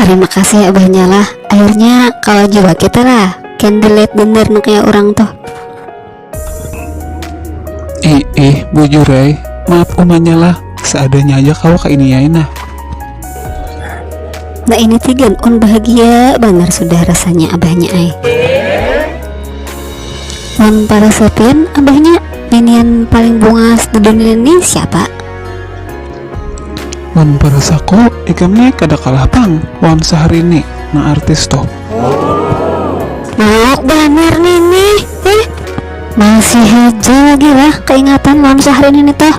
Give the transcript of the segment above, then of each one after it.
Tarima kasih abahnya lah, akhirnya kawa jua kita lah can delete bener nu kaya urang tuh. Ih ih bujur ai, maaf umanya lah, seadanya aja kawa kainiai nah. Nah ini tigan un bahagia banar sudah rasanya abahnya ai. Wan para sepian abahnya ninian paling bungas di dunia ni siapa? Wan para saku ikam ni kada kalah pang wan Sahrini nang artis tuh. Mauk banar nini ih, masih haja lagi lah kaingatan lawan Sahrini ni tuh.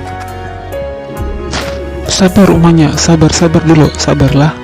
Sabar umanya, sabar sabar dulu, sabar lah.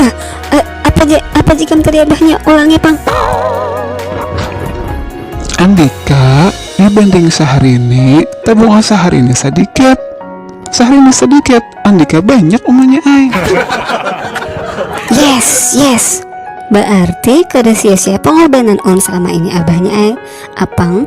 Ah, ah, apa je, apa je kan tadi abahnya ulangnya pang. Andika, dibanding saharini, tabung asa harini sedikit. Saharini sedikit, Andika banyak umanya ai. Yes, yes. Berarti kada sia-sia pengorbanan on selama ini abahnya ai. Apang